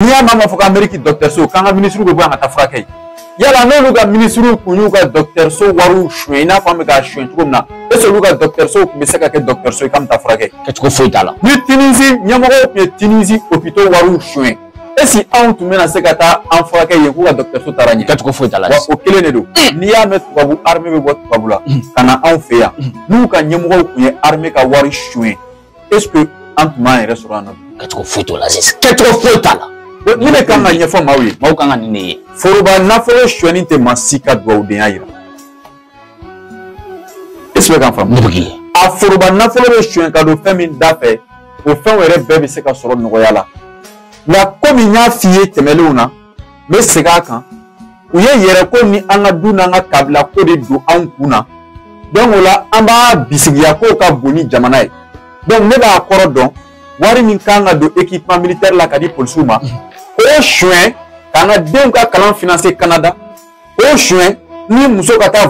n'i y'a mɛn fɔ ko ameriki dɔkitɛriso k'an ka minisiriw bɛ bɔ yan ka taa furakɛ yala n'olu ka minisiriw kun y'u ka dɔkitɛriso wariw suɲɛ i n'a fɔ an bɛ k'a suɲɛ cogo min na est ce olu ka dɔkitɛriso tun bɛ se ka kɛ dɔkitɛriso ye k'an bɛ taa furakɛ kɛcogo foyi t'a la ni tinizi ɲɛmɔgɔw tun ye tinizi opito wariw suɲɛ est ce que anw tun bɛna se ka taa an furakɛ yen k'u ka dɔkitɛriso taara ɲɛ kɛcogo foyi t'a la wa o kelen de don n'i y'a mɛn tubabu arime bɛ bɔ tubabu la ka na anw fɛ yan n'u ka ɲɛmɔgɔw tun ye arime ka wari suɲɛ est ce que an tun b'an yɛrɛ sɔrɔ yan nɔ kɛcogo foyi t'o la sisan kɛcogo foyi t'a la ne bɛ kan ka ɲɛfɔ maaw ye maaw kan ka nin de ye foroba nafolo suɲɛni tɛ maa si ka dugawudenya yira est ce que kan faamu ne b'a f'i ye a foroba nafolo bɛ suɲɛ ka don fɛn min da fɛ o fɛnw yɛrɛ bɛɛ bɛ se ka sɔrɔ nɔgɔya la nka komi n y'a f'i ye tɛmɛnenw na n bɛ segin a kan u ye yɛrɛko ni an ka du n'an ka kabilako de don anw kun na donc o la an b'a bisigiya k'o ka bon ni jamana ye donc ne b'a kɔrɔ dɔn wari min kan ka don équipement militaire la ka di polisiw ma k'o suɲɛ k'an ka denw ka kalan financer Canada k'o suɲɛ ni muso ka taa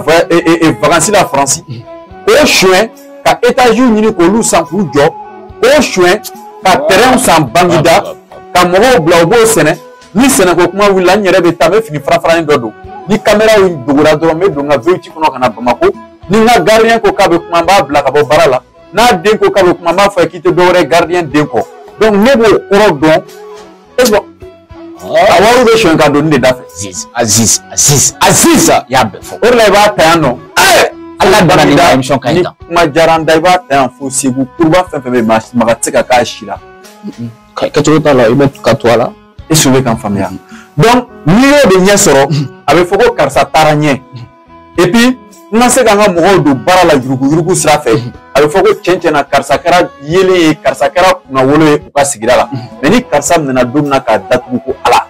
vakansi la faransi k'o suɲɛ ka etaziw ɲini k'olu san k'u jɔ k'o suɲɛ ka tɛrɛnw san bangida ka mɔgɔw bila u b'o sɛnɛ ni sɛnɛko kuma wulila n yɛrɛ bɛ taa n bɛ fini farafaranin dɔ don ni kamera dogora dɔrɔn n bɛ don n ka vewiti kɔnɔ ka na bamako ni n ka gardiyɛn ko k'a bɛ kuma n b'a bila ka bɔ baara la n'a den ko k'a bɛ kuma n b'a fɔ a ye k'i tɛ dɔwɛrɛ ye gardiyɛn den kɔ ne b'o kɔrɔ dɔn est ce que a wariw bɛ suɲɛ ka don nin de da fɛ aziz aziz aziz aziz y'a bɛɛ fɔ o de la i b'a ta yan nɔ ala bana ni ka émission ka ɲi tan kuma diyara n da i b'a ta yan fo segu kuruba fɛn fɛn bɛ yen maga tɛ se ka k'a si la kɛcogo t'a la i bɛ ka to a la est ce que bɛ kan faamuya donc n'i y'o de ɲɛ sɔrɔ a bɛ fɔ ko karisa taara ɲɛ et puis n ka se ka n ka mɔgɔw don baara la yuruguyurugu sira fɛ mhm. a bɛ fɔ ko cɛn cɛn na karisa kɛra yeelen ye karisa kɛra kunnawolo ye u ka sigida la mhm. mais ni karisa minɛna don min na k'a datugu ko ala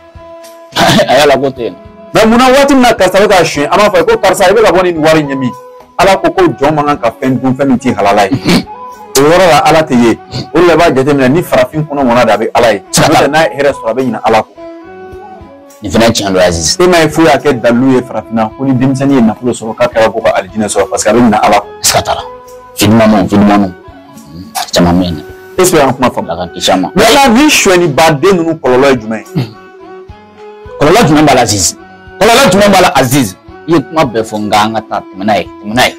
a y'a labɔ ten mais munna waati min na karisa bɛ k'a suɲɛ an b'a fɔ ko karisa i bɛ ka bɔ ni nin wari ye min ala ko ko jɔn man kan ka fɛn dun fɛn min t'i halala ye mhm. o yɔrɔ la ala tɛ ye o de la i b'a jateminɛ ni farafin kɔnɔ mɔna de a bɛ ala ye n'o tɛ n'a ye hɛrɛ sɔrɔ a bɛ ɲinɛ ala kɔ nin fana tiɲɛ don Aziz e m'a ye foyi y'a kɛ dalilu ye farafinna ko ni denmisɛnnin ye nafolo sɔrɔ k'a kɛra ko ka alijinɛ sɔrɔ parce que a bɛ ɲina ala kɔ sika t'a la fidimanu fidimanu caman bɛ yen dɛ est ce que y'an kuma faamu ala ka kisi a ma yala ni suɲɛni baden ninnu kɔlɔlɔ ye jumɛn ye kɔlɔlɔ jumɛn b'a la Aziz kɔlɔlɔ jumɛn b'a la Aziz i ye kuma bɛɛ fɔ nka an ka taa tɛmɛ n'a ye tɛmɛ n'a ye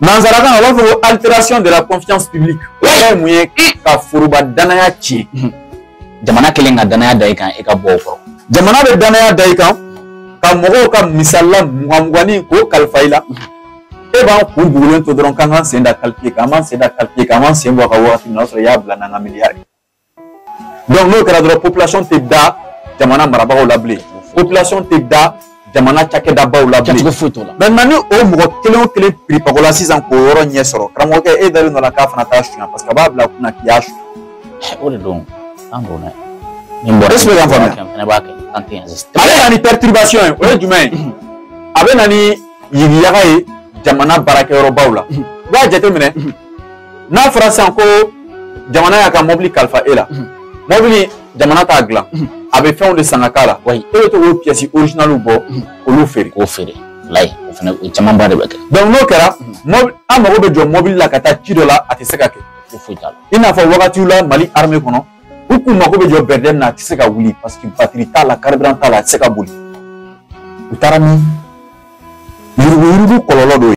nanzarakan na u b'a fɔ ko alteration de la confiance publique o yɛrɛ ye mun ye ka foroba danaya tiɲɛ mhm. jamana kelen ka danaya da i kan i ka bɔ o kɔrɔ jamana bɛ danaya da i kan ka mɔgɔw ka misali la mugan mugannin k'o kalifa i la mhm. e b'an kun bugulen to dɔrɔn k'an k'an sen da calculé k'an b'an sen da calculé k'an b'an sen bɔ a ka wagati min na o y'a sɔrɔ i y'a bila n'an ka miliyari donc n'o kɛra dɔrɔn population tɛ da jamana marabagaw la bilen population tɛ da jamana cakɛdabaw la bilen kɛcogo foyi t'o la maintenant ni o mɔgɔ kelen o kelen piripako la sisan k'o yɔrɔ ɲɛ sɔrɔ karamɔgɔkɛ e dalen dɔ la k'a fana t'a suɲa parce que a b'a bila kunna k'i y'a suɲa o de don an don dɛ nin bɔra est-ce que y'an faamuya fɛnɛ b'a kɛ an tɛ yan sisan a bɛ na ni perturbation ye o ye jumɛn ye a bɛ na ni yigiyaga ye jamana baarakɛyɔrɔbaw la i b'a jateminɛ n'a fɔra sisan ko jamana y'a ka mɔbili kalifa e la mɔbili jamana t'a dilan a bɛ fɛnw de san ka k'a la e bɛ to k'o pièces originales bɔ k'olu feere k'o feere layi o fana o camanba de bɛ kɛ donc n'o kɛra mɔbili an mago bɛ jɔ mɔbili la ka taa ci dɔ la a tɛ se ka kɛ foyi t'a la i n'a fɔ wagatiw la mali armée kɔnɔ u k'u mago bɛ jɔ BRDM na a tɛ se ka wuli parce que batiri t'a la carburant t'a la a tɛ se ka boli u taara ni yuruguyurugu kɔlɔlɔ dɔ ye